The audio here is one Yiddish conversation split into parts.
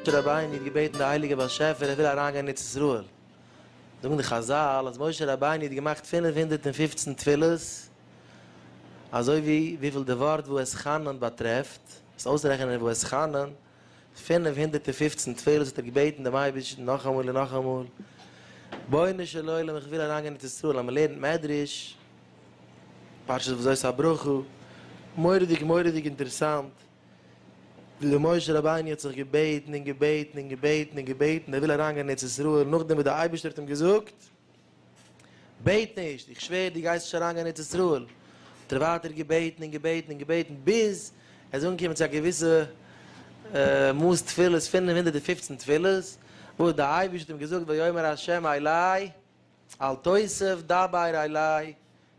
משה רבינו האט געבעטן די הייליגע באשעפער ער וויל אריין גיין אין ארץ ישראל, זאגן די חזל אז משה רבינו האט געמאכט פֿינף הונדערט און פֿופֿצן תפילות, אזוי ווי וויפיל די ווארט ואתחנן באטרעפט, עס אויסרעכענען ואתחנן. פינף הונדערט און פופצן תפלות האט ער געבעטן דעם אייבערשטן נאכאמאל און נאכאמאל, בונו של עולם איך וויל אריינגיין אין ארץ ישראל אז מען לערנט מדרש, פרשת וזאת הברכה, מורא'דיג מורא'דיג אינטערעסאנט ווי דער משה רבינו האט זיך געבעטן און געבעטן און געבעטן און געבעטן ער וויל אריינגיין אין ארץ ישראל, נאכדעם וואס דער אייבערשטער האט אים געזאגט, בעט נישט, איך שווער דו גייסט נישט אריינגיין אין ארץ ישראל. האט ער ווייטער געבעטן און געבעטן און געבעטן ביז ער איז אנגעקומען צו א געוויסע מאס תפילות, פֿינף הונדערט און פֿופֿצן תפילות, וואס דער אייבערשטער האט אים געזאגט ויאמר ה' אלי אל תוסף דבר אלי,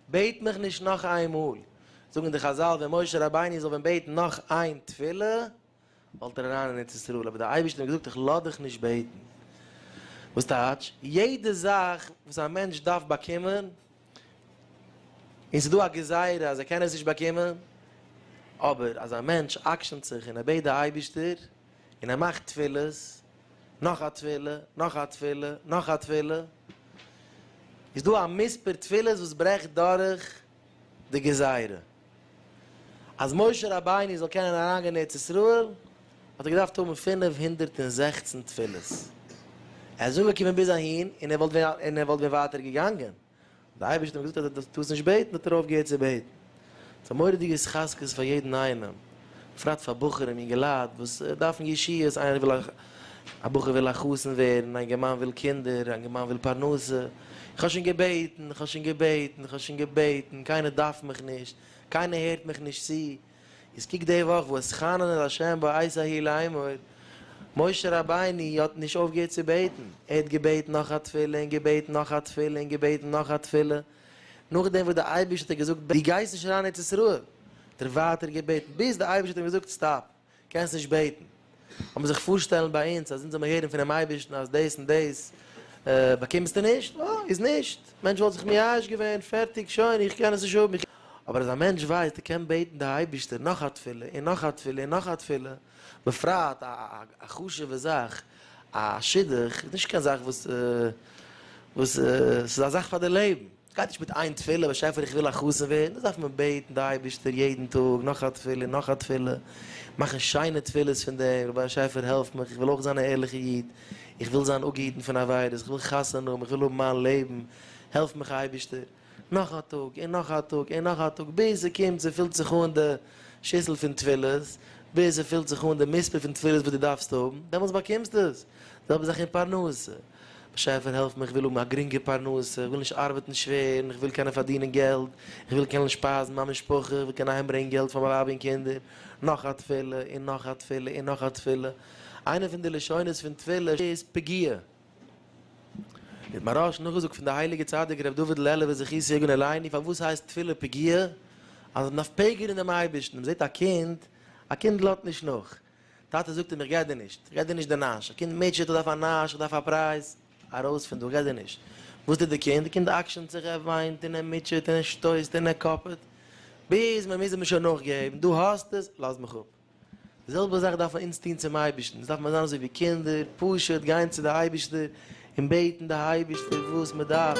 בעט מיך נישט נאך איינמאל. זאגן די חזל ווען משה רבינו זאל ווען בעטן נאך איין תפילה, וואלט ער אריין אין ארץ ישראל, אבער דער אייבערשטער האט געזאגט איך לאז דיך נישט בעטן, וואס טייטש, יעדע זאך וואס א מענטש דארף באקומען, און ס'איז דא א גזירה אז ער קען עס נישט באקומען, אבער אז א מענטש אקשנ'ט זיך און ער בעט די אייבערשטער, און ער מאכט תפילות, נאך א תפילה, נאך א תפילה, נאך א תפילה, איז דא א מספר תפילות וואס ברעכט דורך, די גזירה אז משה רבינו זאל קענען אריינגיין אין ארץ ישראל האט ער געדארפט האבן פֿינף הונדערט און זעכצן תפילות, ער איז אנגעקומען ביז אהין און ער וואלט און ער וואלט ווען ווייטער געגאנגען, די אייבערשטער האט אים געזאגט אז ער דארף דאס נישט בעטן האט ער אויפגעהערט צו בעטן, ס'איז א מורא'דיגע התחזקות פאר יעדן איינעם בפרט פאר בחורים אינגעלייט וואס דארפן ישועות, איינער וויל א בחור וויל א חתן ווערן, א אינגערמאן וויל קינדער, א אינגערמאן וויל פרנסה, איך האב שוין געבעטן, איך האב שוין געבעטן, איך האב שוין געבעטן, קיינער דארף מיך נישט, קיינער הערט מיך נישט צו, איז קוק די וואך ואתחנן אל ה' בעת ההיא לאמור, משה רבינו האט נישט אויפגעהערט צו בעטן, ער האט געבעטן נאך א תפילה און געבעטן נאך א תפילה און געבעטן נאך א תפילה, נאכדעם וואס דער אייבערשטער האט אים געזאגט דו גייסט נישט אריין אין ארץ ישראל, האט ער ווייטער געבעטן, ביז דער אייבערשטער האט אים געזאגט סטאפ, קענסט נישט בעטן. לאמיר זיך פארשטעלן ביי אונז אז אונז זאל מיר הערן פונעם אייבערשטן אז דאס און דאס באקומסטו נישט, אה, איז נישט, מענטש וואלט זיך מייאש געווען, פערטיג, שוין, איך קען עס נישט האבן, אבער אז א מענטש ווייסט ער קען בעטן די אייבערשטער נאך א תפילה און נאך א תפילה און נאך א תפילה, בפרט א א חשוב'ע זאך, א שידוך איז נישט קיין זאך וואס וואס ס'איז א זאך פאר די לעבן, ס'גייט נישט מיט איין תפילה, באשעפער איך וויל א חתן ווערן, דאס דארף מען בעטן די אייבערשטער יעדן טאג, נאך א תפילה און נאך א תפילה, מאכן שיינע תפילות פון דעם, רבונו של באשעפער העלף מיך, איך וויל אויך זיין א ערליכע איד, איך וויל זיין אפגעהיטן פון עבירות, איך וויל חתונה האבן, איך וויל האבן מיין לעבן, העלף מיך אייבערשטער. נאך א טאג און נאך א טאג און נאך א טאג ביז ער קומט צו פילט זיך אן די שיסל פון תפילות, ביז ער פילט זיך אן די מספר פון תפילות וואס דו דארפסט האבן, דעמאלטס באקומסטו עס. די זעלבע זאך אין פרנסה. באשעפער העלף מיך איך וויל האבן א גרינגע פרנסה, איך וויל נישט ארבעטן שווער און איך וויל קענען פארדינען געלט, איך וויל קענען שפייזן מיין משפחה, איך וויל קענען אהיים ברענגען געלט פאר מיין ווייב און קינדער. נאך א תפילה און נאך א תפילה און נאך א תפילה. איינע פון די לשונות פון תפילה איז פגיעה. מיט מרש נאכגעזאגט פון די הייליגע צדיק ר' דוד לעלובער זכי' סעגון עלייני פארוואס הייסט תפילה פגיעה אז מ'דארף פעגערן דעם אייבערשטן מ'זעט א קינד א קינד לאזט נישט נאך טאטע זאגט אים איך גיי דיר נישט איך גיי דיר נישט די נאש א קינד מוטשעט איך דארף א נאש איך דארף א פרייז ארויס פון דא איך גיי דיר נישט וואס טוט די קינד די קינד אקשנ'ט זיך ער וויינט און ער מוטשעט און ער שטויסט און ער קאפעט ביז מ'מוז אים שוין נאכגעבן דא האסטעס לאז מיך אפ. די זעלבע זאך דארף מען אונז טון צום אייבערשטן, אונז דארף מען זיין אזוי ווי קינדער, פשוט גיין צו די אייבערשטער און בעטן די אייבערשטער וואס מען דארף.